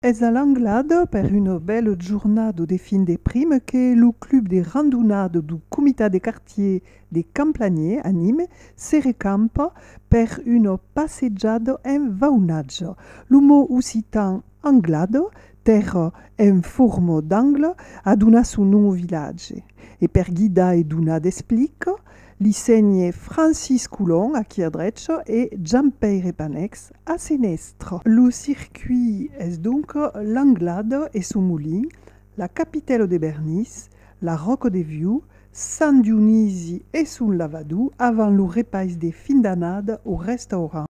Es a l'Anglado per una bèla jornada de fin de prima que lo club de randonada du comitat de quartier de Camplanier a Nîmes se recampa per una passejada en vaunatge. Lo mot occitan anglado, tèrra en forma d'angle, a donat son nom au vilatge. E per guidar e donar d'explica, Li sègne Francis Coulon, a quier drech, e Jean-Pèire Panèx, a senèstre. Lo circuit es donc Langlade e son molin, la Capitèlo de Bernís, la Ròco de Viu, Sant Dionisi e son lavador avant lo repais de fin d'annada o restaurant.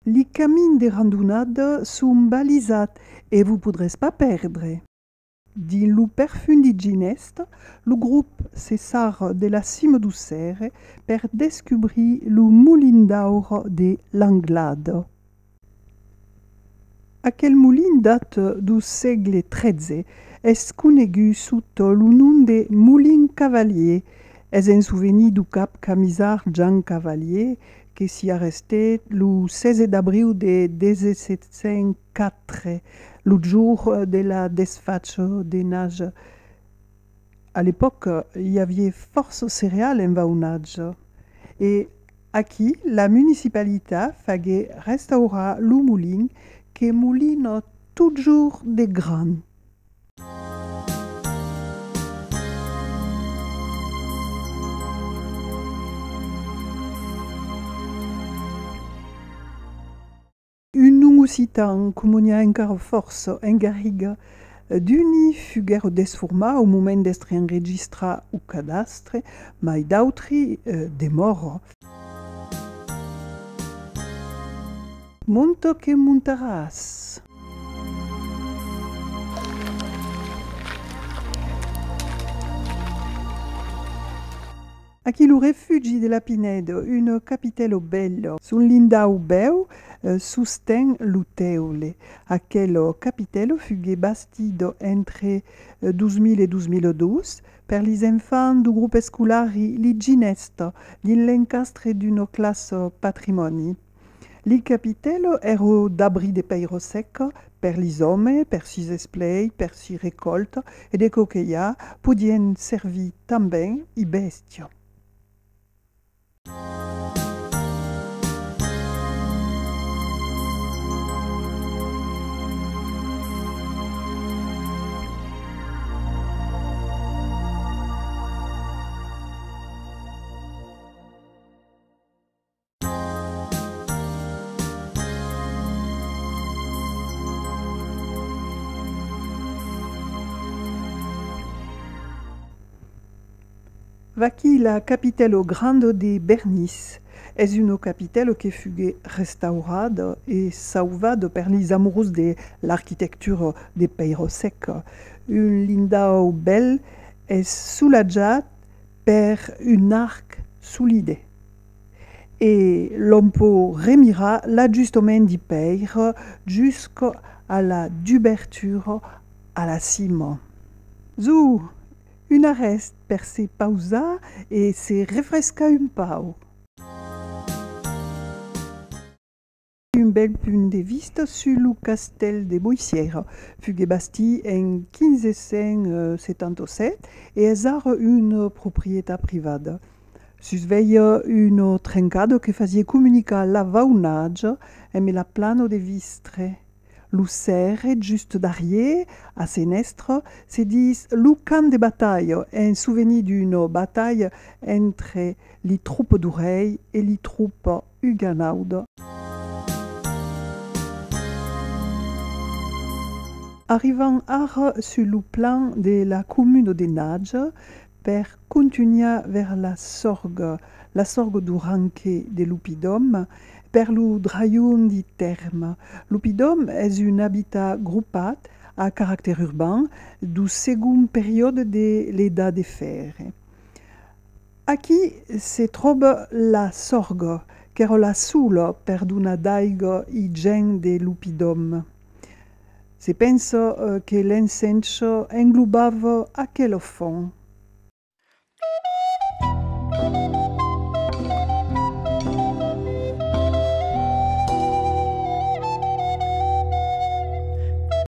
Li camins de randonada son balisats e vos podrètz pas pèrdre. Dins lo perfundi Ginest, lo grop se sar de la cima du Cère per descubrir lo molin d'aur de Langlade. Aquel molin dat du sègle XIII, es conegut sot lo nom de Molin Cavalier, es en souvenir du cap camisard Jean Cavalier que s'i arrestèt lo 16 d'abriu de 1700. Quatre, lo jour de la desfacho de nage. A l'epòca, i avié fòrça cereal en vaunatge. E aquí, la municipalita fagué restaurar lo molin que molina totjorn de gran. Un nom occitan comoniá encara fòrça en Garriga d'uni fuguèro desformar au moment d'estre enregistrar au cadastre, mai d'autri demòro. Monto que montaràs. Aquí lo refugi de la Pinedo, un capitello bello. Son lindau bèu sosten lo teule. Aquel capitello fugué bastido entre 2000 e 2002 per lis enfants du grup escolari Li Ginestò dins l'encastre d'una classa patrimòni. Li capitèlo ero d'abri de pèiro sèc per lis òme, per sis esplei, per si recòlta e de co que i a, podien servir tanben i bèstia. Vaquí la capitèlo granda de Bernis. Es una capitèlo que fugué restaurada e sauvada per lis amorós de l'arquitectura de Peirossec. Un lindau bèl es solatjat per un arc solide. E l'òm pò remirar l'ajustament de pèire jusc a la dubertura a la cima. Zo! Un arrèst per se pausar e se refrescar un pauc. Un bèl punt de vista sus lo castèl de Boissièira. Fuguèt bastit en 1577 e es ara una proprietat privada. Sus veia una trencada que fasiá comunicar la Vaunatja emb la plana de Vistre. Lo sèrre just darrier, a senèstra, se dis lo camp de batalha, en sovenir d'una batalha entre li tropa d'Orèir e li tropa Huguenaude. Arrivan ara sus lo plan de la comuna de Nage per contunhar vers la sorgue, la sorgue du Ranque de Lupidom, per lo drajum di Tèrme. Lupidom es un abitat gropat a caractèr urban du segon periòde de l'Edat de Fèrre. Aquí se tròba la Sorgo, qu'èra la sola perdona d'aiga i gèn de l'oppidòm. Se pensa que l'ensencha englobava aquela font.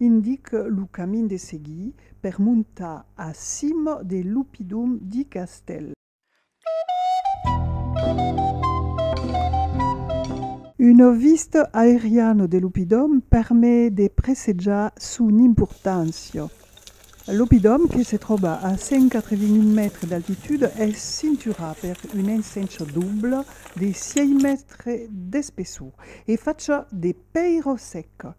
Indic lo camin de seguir per montar a cim de l'oppidum di Castèl. Una vista aeriana de l'oppidum permet de presejar son importància. L'oppidum, que se tròba a 180.000 mètres d'altitude, es cinturat per una ensencha dobla de sièis mètres d'espessor e facha de pèira seca.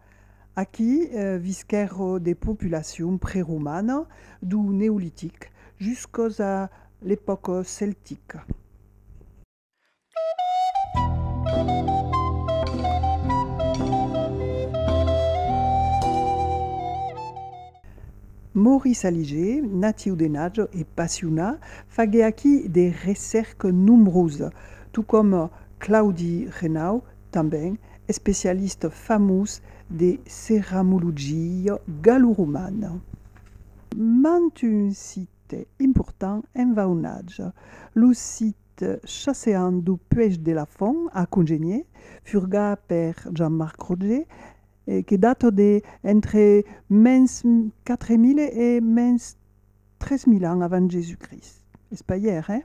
Aquí visquèro de populacion preromana du Neolitic juscos a l'epòca celtica. Maurice Aliger, natiu de Najo e Passiona, faguè aquí de recèrques nombroses, tocòm Claudi Renau, Tanben especialista famós de ceramologia galloromana. Mant un site important en vaunatge, lo site chasseant du Puech de la Font a Congenier, furgat per Jean-Marc Roger, que data de entre mens 4000 e mens 3000 ans avant Jésus-Christ. Es pas ièr, eh?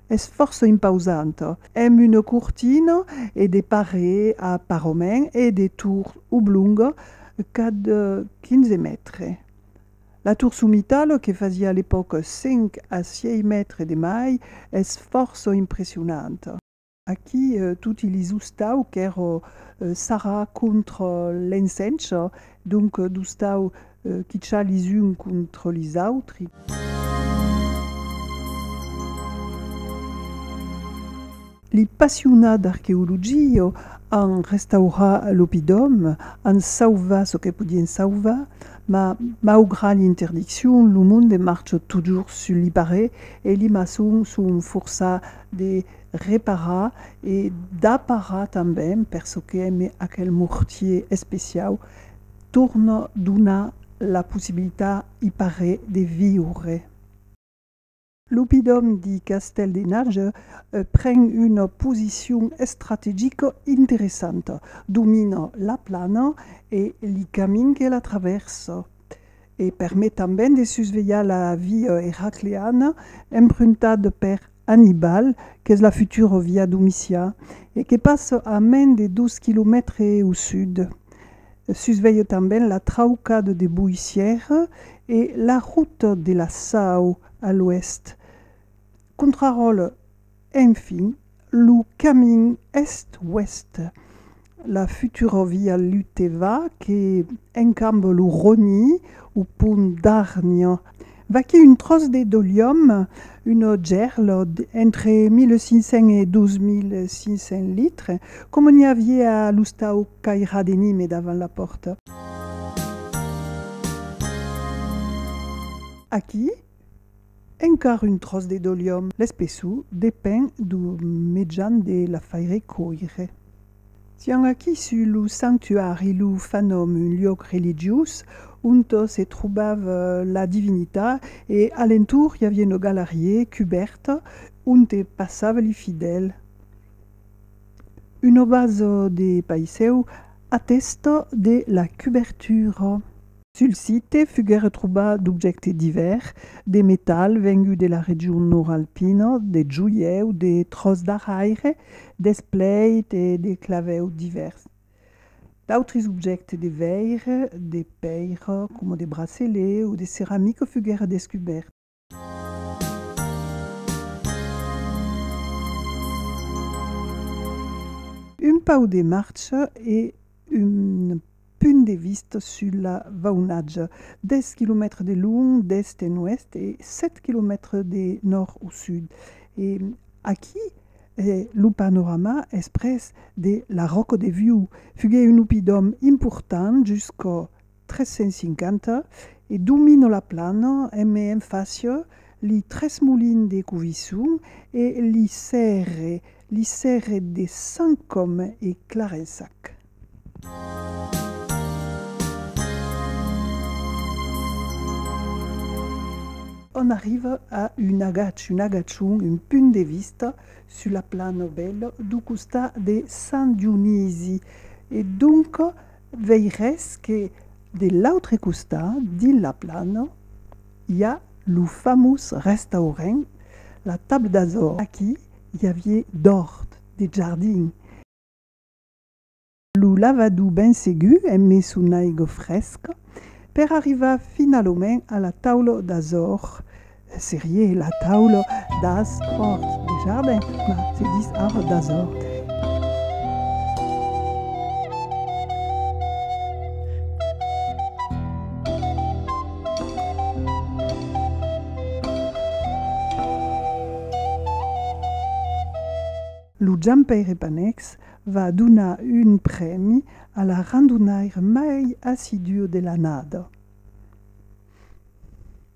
Es fòrça impausant. Amb una cortina e de paré a parament e de tours oblonga cad 15 mètres. La tour somitala que fasiá a l'epòca 5 a 6 mètres de mai es fòrça impressionanta. Aquí toti li zostau qu'èra sarrà contra l'encencha, donc d'ostau Quichar les uns contra les autres. Li passionats d'arqueologia an restaurat l'opidòm, an sauvat çò que podien sauvar, ma maugrat l'interdiccion, lo monde marcha totjorn sul li parer e li maçons son forçats de reparar e d'aparar tanben per çò que èm aquel mortier especiau. Torna donar la possibilita i pare de viure. L'oppidòm de Castèl de Narge pren una posicion estrategica interessanta, domina la plana e li camin que la travèrsa e permet tanben de susvelhar la via eracleana empruntada per Annibal, qu'es la futura via Domicià e que passa a mens de dos quilomètres au sud. Sus vei tanben la traucada de Boissière e la ruta de la Sau a l'oèst. Contraròtle, enfin, lo camin èst-oèst. La futura via luteva que encambe lo Roni au pont d'Argna. Vaquí un tròç de dolium, una gèrla entre 1500 e 2500 litres, coma n'i aviá a l'ostau Cairà de Nime davant la pòrta. Aquí, Encara un tròç de doliòm. L'espessor depend du mejan de la faire còire. Sián aquí sus lo sanctuari, lo fanòm, un luòc religiós onto se trobava la divinita e a l'entorn i aviá una galarié cubèrta onte passava li fidèl. Una basa de paisèu atèsta de la cubèrtura. Sul site foguèron trobats d'objèctes divèrs, de metal vengut de la region nòrd-alpina, de joièu, de tròç d'arraire, d'espleit e de clavèu divèrs. D'autres objèctes de veire, de pèira, coma de bracelets o de ceramica foguèron descubèrts. Un pau de marcha e un punt de vista sul vaunatge, 10 quilomètres de long d'èst en oèst e 7 quilomètres de nòrd au sud. E aquí lo panorama es pres de la Ròca de Viu. Fugué un opidòm important jusqu'au 350 e domino la plana en me en fàcia li tres molins de Covisson e li sèrre, li sèrre de Sant Còme e Clarençac. On arriva a un agach, un agachon, un punt de vista sus la plana bèla dau costat de Sant Dionisi e donc, Veires que de l'autre costat de la plana i a lo famós restaurent La Table d'Azor. Aquí i avié d'òrt, de jardin. Lo lavadou ben segur eme son aiga fresca per arrivar finalament a la Taula d'Azor Serie la taula das òrts de jardin, mas se dis ara das òrts. Lo Jampaire Panex va donar un prèmi a la randonaire mai assiduo de l'annada.